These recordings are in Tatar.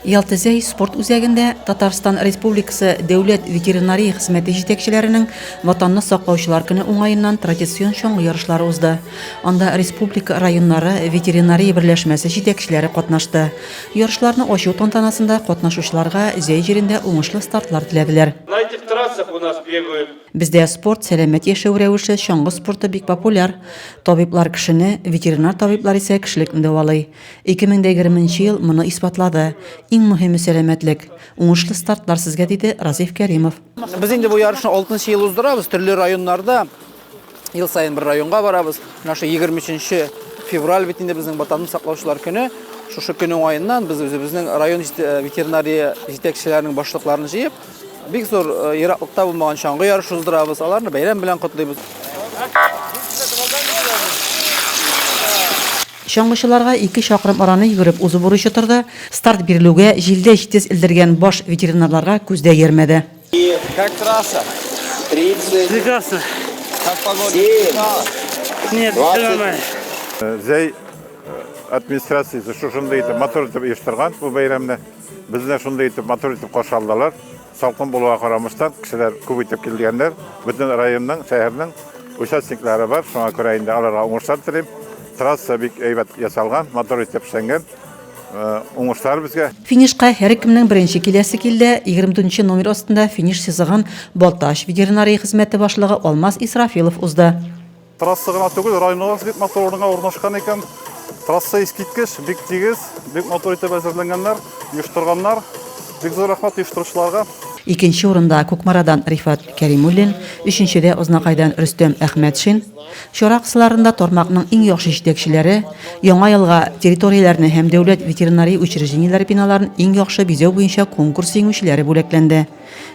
Ялтызәй спорт үзәгендә Татарстан Республикасы Дәүләт ветеринария хезмәте җитәкчеләренең Ватанны саклаучылар көне уңаеннан традицион чаңгы ярышлары узды. Анда республика районнары ветеринария берләшмәсе җитәкчеләре катнашты. Ярышларны ачу тантанасында катнашучыларга Зәй җирендә уңышлы стартлар теләделәр. Найтик трассах у нас бегают. Бездә спорт, сәламәт яшәү рәвеше, чаңгы спорты бик популяр. Табиблар кешене, ветеринар табиблар исә кешелекне дәвалый. 2020 нче ел моны исбатлады. Иң мөһиме сәламәтлек. Уңышлы стартлар сезгә, диде Разиф Кәримов. Без инде бу ярышны алтынчы ел уздырабыз, төрле районнарда. Ел саен бер районга барабыз. Менә шул 23 февраль бит инде безнең Ватанны саклаучылар көне. Шушы көн уңаеннан без үзебезнең район ветеринария җитәкчеләренең башлыкларын җыеп, Бик зур ераклыкта булмаган чаңгы ярышы уздырабыз. Аларны бәйрәм белән котлыйбыз. Чаңгычыларга ике чакрым араны йөгереп узу бурычы торды. Старт бирелүгә җилдә җитез элдергән баш ветеринарларга күз дә йөрмәде. Как трасса? 30. Прекрасно. Как погода? 7. Нет, все нормально. Зәй администрациясе шушындый итеп матур итеп оештырган бу бәйрәмне. Безне шундый итеп матур итеп каршы алдылар. Салкын булуга карамастан, кешеләр күп итеп килгәннәр. Бөтен районның, шәһәрнең участниклары бар. Шуңа күрә инде аларга уңышлар телим. Трасса бик әйбәт ясалган, матур итеп эшләнгән. Э, уңышлар безгә. Финишка һәркемнең беренче киләсе килде. 24 номер астында финиш сызыгын Балтач ветеринария хезмәте башлыгы Алмаз Исрафилов узды. Трасса гына түгел, районыбыз бик матур урынга урнашкан икән. Трасса искиткеч, бик тигез, бик матур итеп әзерләнгәннәр, оештырганнар. Бик зур рәхмәт оештыручыларга. Икенче урында Кукмарадан Рифат Кәримуллин, өченчедә Ознакайдан Рөстәм Әхмәтшин. Чара кысаларында тармакның иң яхшы җитәкчеләре Яңа елга территорияләрне һәм дәүләт ветеринария учреждениеләре биналарын иң яхшы бизәү буенча конкурс җиңүчеләре бүләкләнде.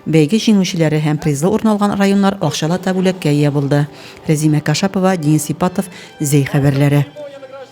Бәйге җиңүчеләре һәм призлы урын алган районнар акчалата бүләккә ия булды. Рәзимә Кашапова, Денис Ипатов, Зәй хәбәрләре.